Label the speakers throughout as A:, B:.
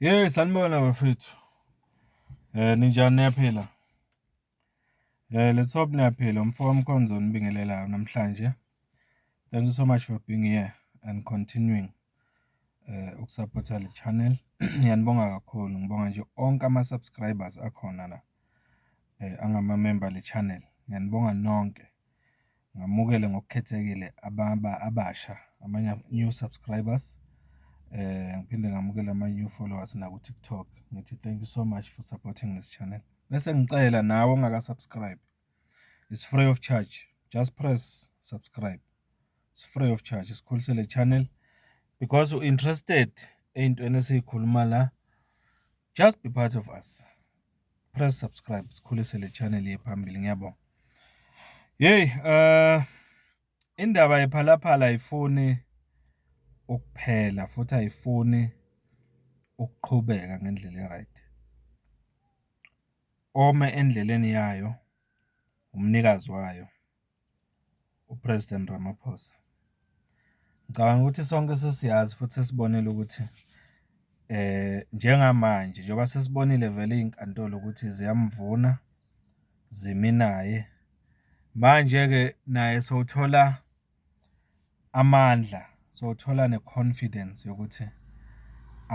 A: Hey sanibona bafethu. Eh ninjani niyaphila? Eh let's hope niyaphila umfo wamkhonzo onibingelelayo namhlanje. Thank you so much for being here and continuing eh ukusupporta le channel. Ngiyanibonga kakhulu. Ngibonga nje onke ama subscribers akhona la. Eh angama member le channel. Ngiyanibonga nonke. ngamukele ngokukhethekile ababa abasha amanye new subscribers eh ngiphinde ngamukele ama new followers na ku TikTok ngithi thank you so much for supporting this channel bese ngicela nawe ongaka subscribe it's free of charge just press subscribe it's free of charge sikhulisele le channel because u interested eyintweni esikhuluma la Just be part of us. Press subscribe sikhulise le channel yephambili ngiyabonga. Hey, uh indaba yephalaphala ayifuni ukuphela futhi ayifuni ukuqhubeka ngendlela eright. Ome endleleni yayo umnikazi wayo. uPresident Ramaphosa. Ngicabanga ukuthi sonke sesiyazi futhi sesibonile ukuthi njengamanje njengoba sesibonile vele iy'nkantolo ukuthi ziyamvuna zimi naye. Manje-ke naye sowuthola amandla sothola ne-confidence yokuthi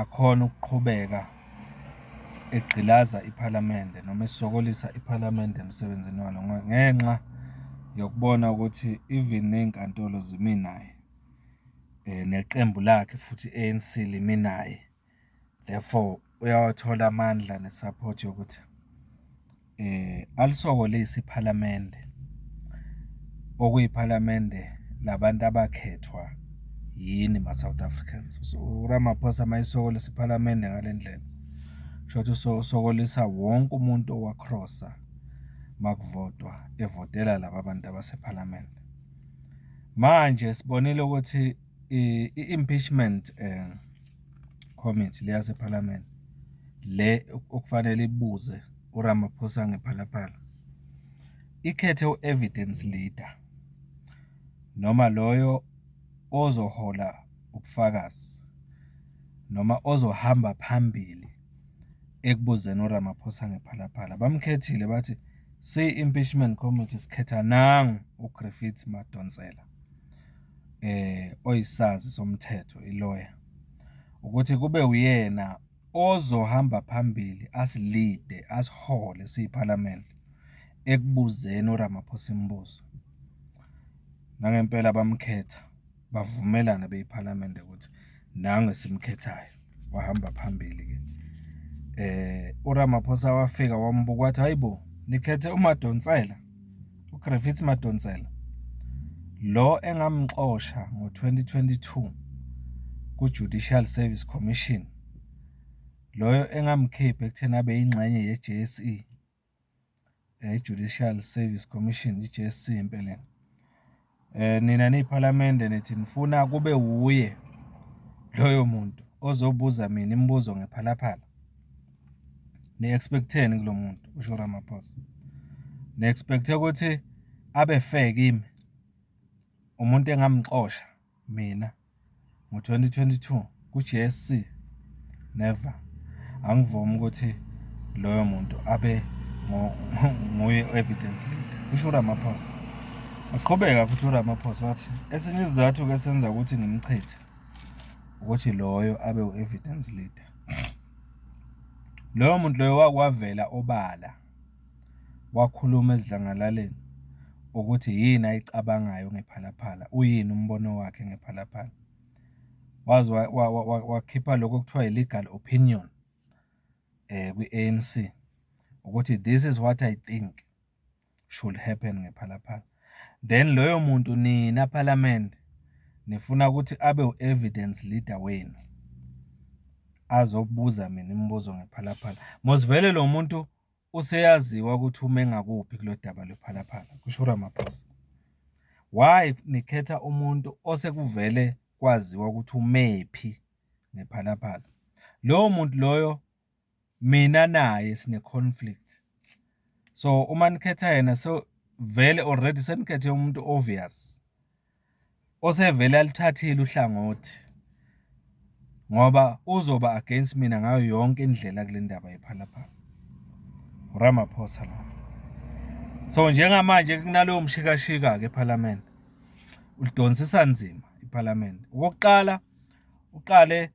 A: akhona ukuqhubeka egqilaza iphalamende noma esokolisa iphalamende emsebenzini walo ngenxa yokubona ukuthi even ney'nkantolo zimi naye neqembu lakhe futhi i-ANC limi naye. therefore uyawathola amandla ne-support yokuthi eh alisokolisi iphalamende okuyiphalamende labantu abakhethwa yini ma-South Africans so uRamaphosa mayisokolisa iphalamende ngale ndlela shothi usokolisa wonke umuntu owakrosa makuvotwa evotela laba bantu abasephalamende manje sibonile ukuthi I-impeachment um committee le yasePhalamende le okufanele ibuze uRamaphosa ngephalaphala ikhethe u-evidence leader noma loyo ozohola ubufakazi noma ozohamba phambili ekubuzeni uRamaphosa ngephalaphala bamkhethile bathi siyi-impeachment committee sikhetha nangu uGriffith Madonsela oyisazi somthetho iloya ukuthi kube uyena ozohamba phambili asilide asihole siyiphalamende ekubuzeni uRamaphosa imibuzo nangempela bamkhetha bavumelana beyiphalamende ukuthi nangu esimkhethayo wahamba phambili ke eh uRamaphosa wafika wambuka wathi hayibo nikhethe uMadonsela uGriffith Madonsela lo engamxosha ngo-2022 ku-Judicial Service Commission loyo engamkhipha ekutheni abe yingxenye ye-JSE eh, i-Judicial Service Commission i-JSC impela eh nina niyiphalamende nithi nifuna kube wuye loyo muntu ozobuza mina imibuzo ngephalaphala ni-expecteni kulo muntu usho Ramaphosa ni-expecte ukuthi abe fair kimi umuntu engamxosha mina ngo-2022 ku-GSC never angivumi ukuthi loyo muntu abe nguye evidence leader kusho uRamaphosa waqhubeka futhi uRamaphosa wathi esinye isizathu ke senza ukuthi ngimchithe ukuthi loyo abe u-evidence leader loyo muntu loyo wakwavela obala wakhuluma esidlangalaleni ukuthi yini ayicabangayo ngePhalaphala, uyini umbono wakhe ngePhalaphala. Waze wakhipha lokho okuthiwa i-legal opinion kwi-A_N_C ukuthi this is what I think should happen ngePhalaphala. Then loyo muntu nina phalamende nifuna ukuthi abe u-evidence leader wenu, azobuza mina imibuzo ngePhalaphala. Mos vele lo muntu useyaziwa ukuthi ume ngakuphi kulolu daba lwePhalaphala, kusho uRamaphosa. Why nikhetha umuntu osekuvele kwaziwa ukuthi umephi ngePhalaphala? Lowo muntu loyo mina naye sine-conflict. So uma nikhetha yena so vele already senikhethe umuntu obvious. osevele alithathile uhlangothi ngoba uzoba against mina ngayo yonke indlela kule ndaba yephalaphala uramaphosa la so njengamanje kunalowo mshikashika-ke ephalamende ulidonsisa nzima iphalamende okokuqala uqale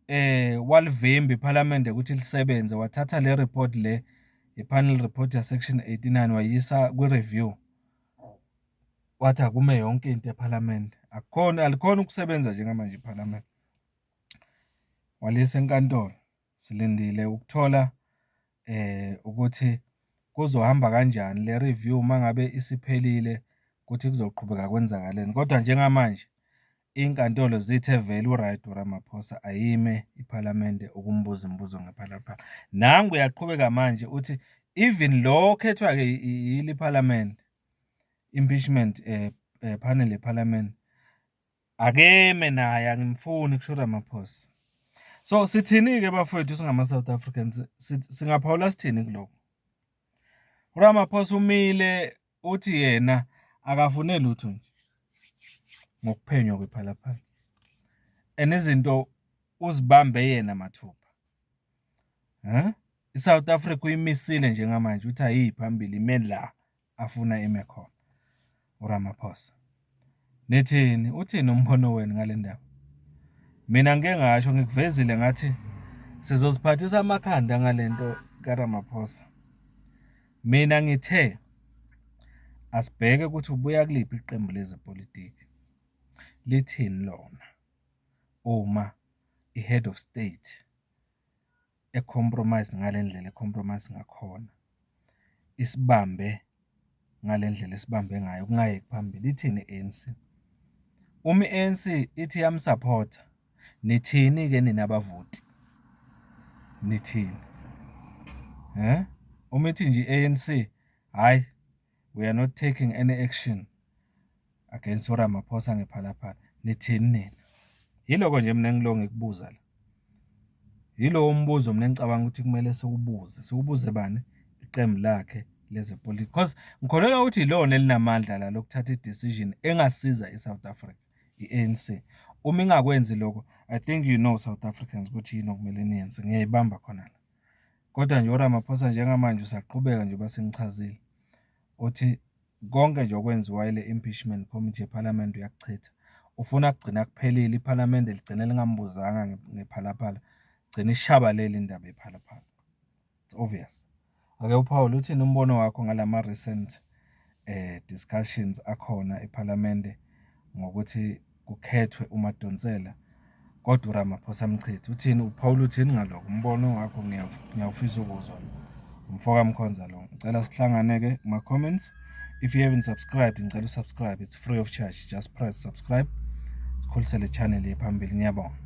A: eh walivimba iphalamende ukuthi lisebenze wathatha le report le i-panel report ya-section 89 wayisa kwi-review wathi akume yonke into ephalamende akukhona alikhona ukusebenza njengamanje iphalamende walisa enkantolo silindile ukuthola eh ukuthi kuzohamba kanjani le review mangabe isiphelile ukuthi kuzoqhubeka kwenzakaleni kodwa njengamanje Inkantolo zithe vele uryt uRamaphosa ayime iPhalamende ukumbuza imibuzo ngephalaphala. Nangu uyaqhubeka manje uthi even lo okhethwa-ke yili iPhalamende impeachment eh, eh, panel yePhalamende akeme naye angimfuni kusho uRamaphosa. So sithini-ke bafowethu singama-South Africans singaphawula sithini kuloko? uRamaphosa umile uthi yena akafune lutho nje ngokuphenywa kwephalaphala and izinto uzibambe yena mathupha huh? i-south africa uyimisile njengamanje ukuthi ayiyi phambili ime la afuna ime khona uramaphosa Nithini? Uthini umbono wenu ngale ndaba? Mina ngike ngasho ngikuvezile ngathi sizoziphathisa amakhanda ngale nto kaRamaphosa. Mina ngithe asibheke ukuthi ubuya kuliphi iqembu lezepolitiki. Lithini lona uma i-head of state e-compromise ngale ndlela e-compromise ngakhona, isibambe ngale ndlela esibambe ngayo kungayeki phambili, ithini i-ANC? Uma i-ANC ithi iyamsaphotha, nithini-ke nina bavoti? Nithini? Uma ithi nje i-ANC, hhayi. We are not taking any action against uRamaphosa ngephalaphala. Nithini nina? Yiloko nje mina ngilo ngikubuza la. Yilowo mbuzo mina ngicabanga ukuthi kumele siwubuze. Siwubuze bani? Iqembu lakhe lezepolitiki. Because ngikholelwa ukuthi yilona elinamandla la lokuthatha i-decision engasiza i-South Africa, i-ANC. Uma ingakwenzi lokho, I think you know South Africans ukuthi yini okumele niyenze. Ngiyayibamba khona la. Kodwa nje uRamaphosa njengamanje usaqhubeka nje basenichazile uthi konke nje okwenziwa ile impeachment committee yePhalamende uyakuchitha ufuna kugcina kuphelile iPhalamende ligcine lingambuzanga ngephalaphala gcina ishabalele indaba yephalaphala it's obvious ake uphawule uthini umbono wakho ngalama recent eh discussions akhona ePhalamende ngokuthi kukhethwe uMadonsela kodwa uRamaphosa amchithe. Uthini uPaul uthini ngaloko umbono wakho ngiyawufisa ukuzwa lo. Umfoka Mkhonza lo. Ngicela sihlangane ke kuma comments. If you haven't subscribed ngicela usubscribe it's free of charge just press subscribe. Sikhulisele channel yephambili ngiyabonga.